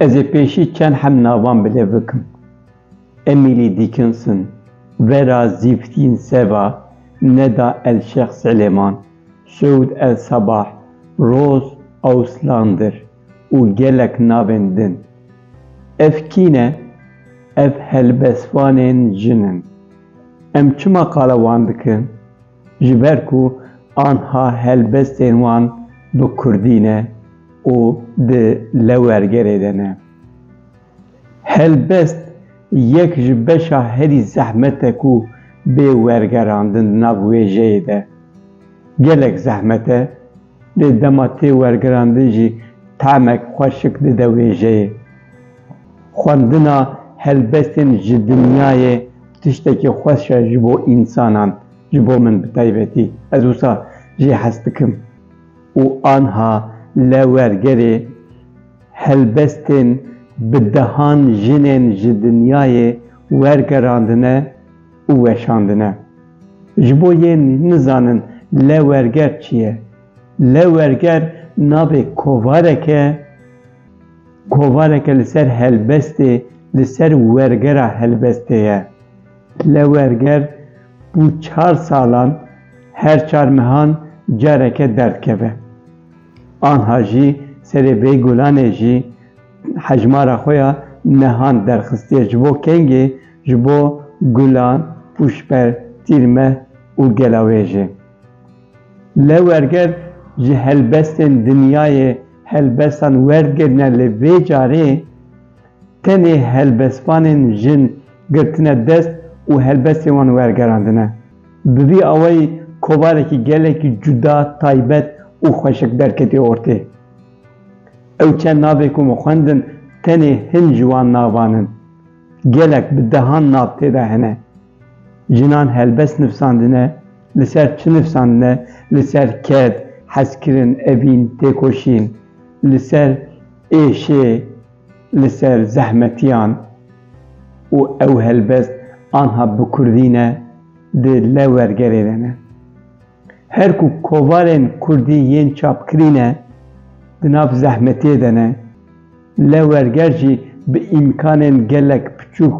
Ez ê pêşî çend hem navan bi lêv bikim. Emily Dickinson, Vera Zîfdîn Seva, Neda El Şex Silêman, Sûd El Sabah, Roz Auslander û gelek navên din. Ev kî ne? Ev helbestvanên jin in. Em çima qala wan dikin? Ji ber ku anha helbestên wan bi kurdî ne û di lewergerê de ne. Helbest yek ji beşa herî zehmet e ku bê wergerandin di nav wêjeyê de. Gelek zehmet e. Lê dema tê wergirandin jî tamek xweşik dide wêjeyê. Xwendina helbestên ji dinyayê tiştekî xweş e ji bo însanan, ji bo min bi taybetî. Ez wisa jî hez dikim û anha le wergerê helbestên bi dehan jinên ji dinyayê wergerandine, û weşandine. Ji bo yên nizanin lewberger çi ye, lewberger navê kovarek e, kovareke li ser helbestê, li ser wergera helbestê ye. Lewberger bo çar salan her çar mehan careke derdikeve. Anha jî serê vê gulanê jî hejmara xwe ya mehan derxistiye ji bo kengê Ji bo gulan, pûşber, tîrmeh û gelawêjê. Lê werger ji helbestên dinyayê helbestan werdigirine lê vê carê tenê helbestvanên jin girtine dest û helbestên wan wergerandine. Bi vî awayî kovarekî gelekî cuda, taybet û xweşik derketî ortê. Ew çend navê ku min xwendin tenê hin ji wan navan in. Gelek bi dehan nav tê de hene. Jinan helbest nivsandine, li ser çi nivsandine, li ser ked, hezkirin, evîn, têkoşîn, li ser êşê, li ser zehmetiyan û ew helbest anha bi kurdî ne, di lew wergerê de ne. Her ku kovarên kurdî yên çapkirî ne, di nav zehmetiyê de ne, lê werger jî bi îmkanên gelek piçûk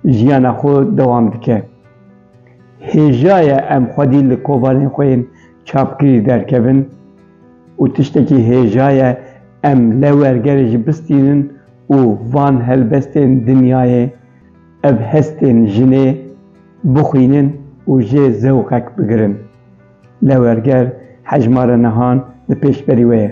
jiyana xwe dewam dike. Hêja ye em xwedî li kovarên xwe yên çapkirî derkevin û tiştekî hêja ye em lê wergerê jî bistînin û van helbestên dinyayê, ev hestên jinê, bixwînin û jê zewqek bigirin. Lewerger hejmara nihan li pêşberî we ye.